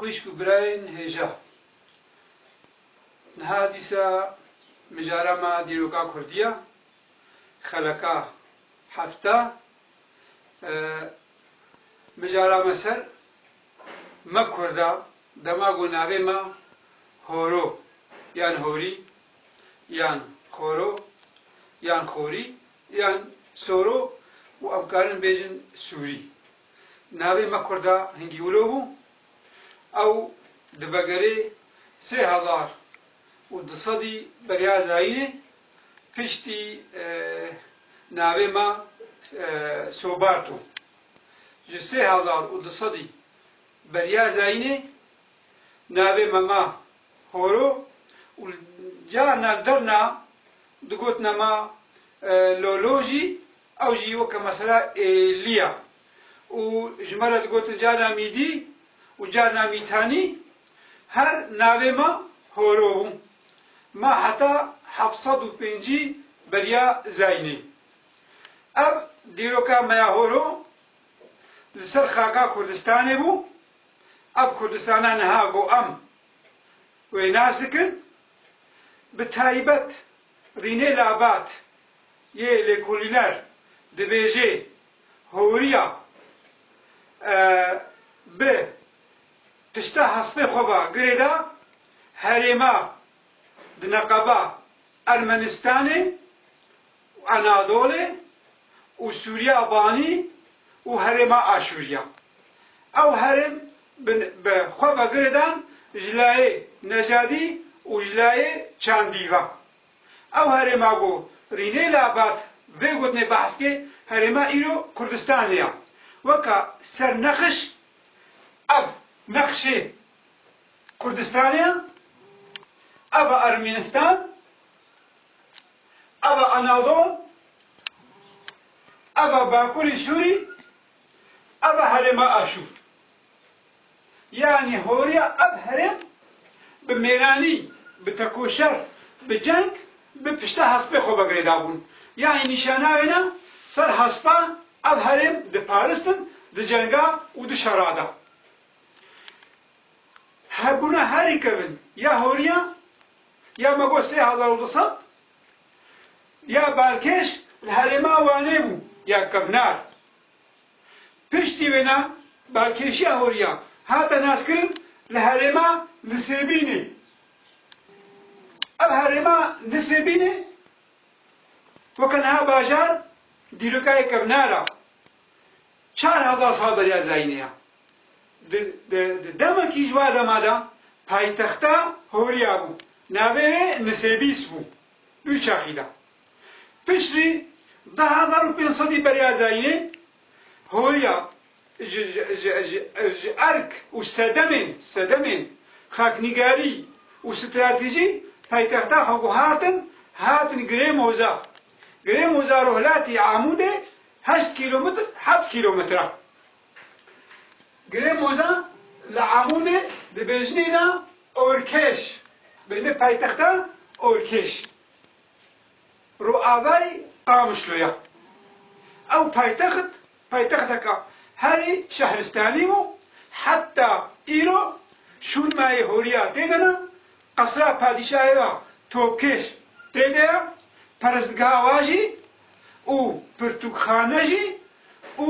Xwîşk û birayên hêja, niha dîsa mijara me dîroka kurdî ya, xeleka hefta mijara me ser, me kurd a, dema ku navê me Horo yan Horî yan Xoro yan Xorî yan Soro û em karin bêjin Sûrî. Navê me Kurda Hingîwilo bû. Ew di vegerê sê hezar û du sedî beriya Zayînê piştî navê me Soberto. Ji sê hezar û du sedî beriya Zayînê navê me ma Horo û carna li derna digotina ma Lolo jî. Ew jî weke mesela êlî ya û ji me re digotin carina mîdî û carina mîtanî her navê me horo bû. Ma heta heft sed û pêncî beriya Zeynê. Ev dîroka me ya horo li ser xaka Kurdistanê bû. Ev Kurdistana niha ku em wê nas dikin bi taybet Rînê Labat Yê lêkolîner dibêjê horiya bi pişta hespê xwe ve girê da herêma di neqeba Ermenistanê û Anadolê û Sûriya Banî û herêma Aşûriya. Ew herêm bi xwe ve girê dan ji layê Necadî û ji layê Çandî ve. Ew herêma ku Rînê Labat vê gotinê behs kê, herêma îro Kurdistanê ya. Weka sernexiş ev nexşê Kurdistanê ya, ev e Ermînistan, ev e Anadol, ev e Bakurê Sûrî, ev e herêma Aşûr. Yanî horiya ev herêm bi mêranî, bi tekoşer, bi ceng, bi pişta hespê xwe ve girêdabûn. Yanî nîşanawêna ser hespa ev herêm diparistin di cenga û di şera de. Hebûna herî kevn ya horiya ya me got sê hezar û du sed ya balkêş li herêma Wanê bû ya kevnar. Piştî wê ne balkêşiya horiya hate naskirin li herêma Nisêbînê. Ev herêma Nisêbînê weke niha bajar dîrokayê kevner a. Çar hezar sal beriya zayînê ya. Di demekî ji wa dema de paytexta horiya bû. Navê wê Nisêbîs bû. Du çaxî da. Piştî di hezar û pênc sedî Beriya Zayînê horiya ji erk û sedemên sedemên xaknîgarî û stratejî paytexta xwe ku hatin hatin Girê Moza. Girê Moza rûhlatî Amûdê heşt kîlometr heft kîlometre. Girê Moza li Amûdê di bêjinê de Orkêş, bêjinê paytexta Orkêş, rûavayî Qamişlo ye. Ew paytext, paytexteke herî şehristanî bû, heta îro şûnmayê horiya tê de ne, qesra padîşahê ya Topkêş tê de ye, perestgeha wa jî û pirtûkxane jî û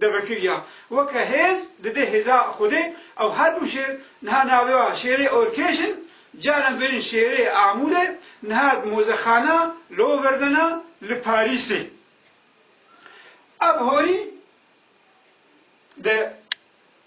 de vekiriya. Weke hêz didê hêza Xwedê ew her du şêr niha navê wan Şêrê Orkêş in, caran bêrîn Şêrê Amûrê, niha di mozexana Loverdena li Parîsê. Ev horî di.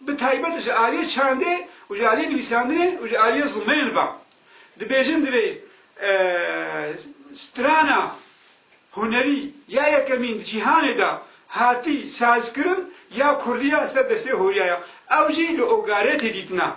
bi taybet ji aliyê çandê û ji aliyê nivîsandinê û ji aliyê zilmeyên ve. Dibêjin divê strana hunerî ya yekemîn di cîhanê de hatî sazkirin ya kurdî ya ser destê Horyaya. Ew jî li Ogaretê dîtina.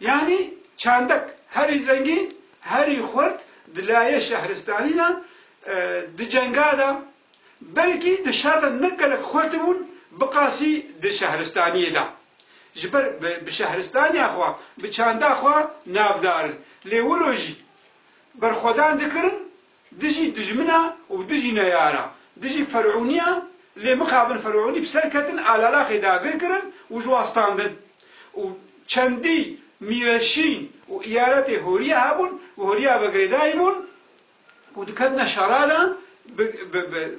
Yanî çandek herî zengîn, herî xurt di layê şehristanî de, di cenga de, belkî di şer de ne gelek xurt bûn biqasî di şehristaniyê de. Ji ber bi şehristaniya xwe, bi çanda xwe navdar in. Lê wilo jî berxwedan dikirin. Dijî dijmina û dijî neyara, dijî ferûniyan lê mixabin ferûnî bi ser ketin Alalaxê dagir kirin û ji wan standin û çendî mîre şîn û îyaretê horiya hebûn bi horiya ve girêdayî bûn û diketine şera de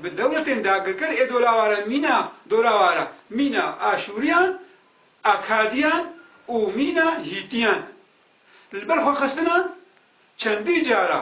bi dewletên dagirker ê dolaware mîna dolaware mîna Aşûriyan, Akadiyan û mîna Hîtiyan li ber xwe xistina çendî cara.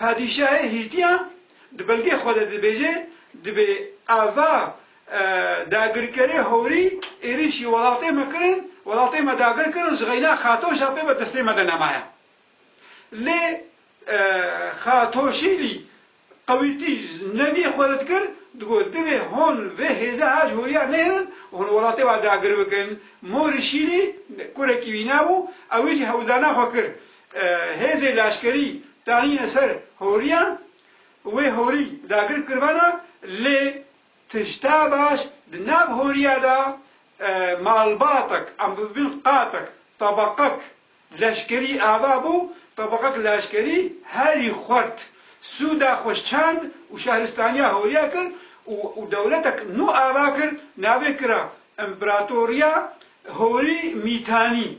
Padîşahê Hîtiyan di belgê xwe de dibêje, Dibê ava dagirkerê howrî êrîşî welatê me kirin, welatê me dagir kirin ji xeyna Xatoşa pê bi destê me de nemaye. Lê Xatoşîlî qewîtî ji nevî xwe rid kir, digot divê hûn vê hêza her ji horiya nêhirin û hûn welatê wan dagir bikin. Morî Şîlî kurekî wî nebû, ew jî hewldana xwe kir. Hêzê leşkerî danîne ser horiyan, wê horî dagir kiribana lê tişta baş di nav horiya de malbatek em bibin qatek, tebaqek leşkerî ava bû, tebaqek leşkerî herî xwert sûda xwe şand û şehristaniya horiya kir û dewletek nû ava kir navê kira Împeratoriya Horî Mîtanî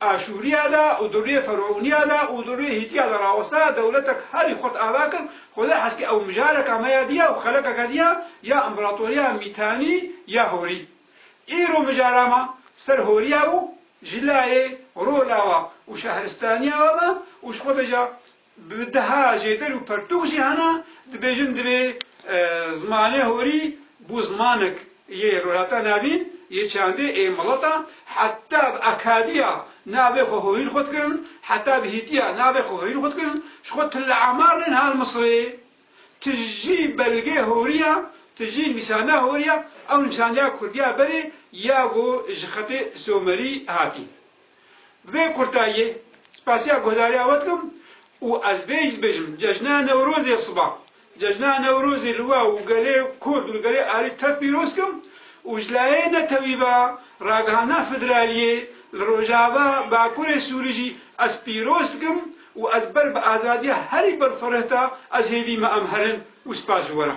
Aşûriya de û di rûyê Ferûniya de û di rûyê Hîtiya de raweste, dewletek herî xurt ava kir, Xwedê heskê ew mijareka me ya diya û xelekeke diya ya împeratoriya Mîtanî ya Horî. Îro mijara me ser Horiya û ji layê rola we û şehristaniya we me û ji Xwedê ca Bi deha jêder û pertûk jî hene dibêjin divê zimanê horî bû zimanek yê Rojhilata Navîn yê çandê ê mileta heta bi akadiya navê xwe horîn xwe dikirin, heta bi hîtiya navê xwe horîn xwe dikirin, ji xwe tu li Amar nên hal Misirê tu jî belgê horî ya, tu jî nivîsandina horî ya, ew nivîsandiya kurdiya berê ya ku ji xetê somerî hatî. Vê kurtayiyê spasiya guhdariya we dikim û ez bê jî dibêjim Cejna Newrozê siba Cejna Newrozê li we û gelê Kurd û li gelê Arî tev pîroz dikim û ji layê netewî ve ragihana federaliyê li Rojava Bakurê Sûrî jî ez pîroz dikim û ez ber bi azadiya herî berxwerehta ez hêvî me em herin û spas ji we re.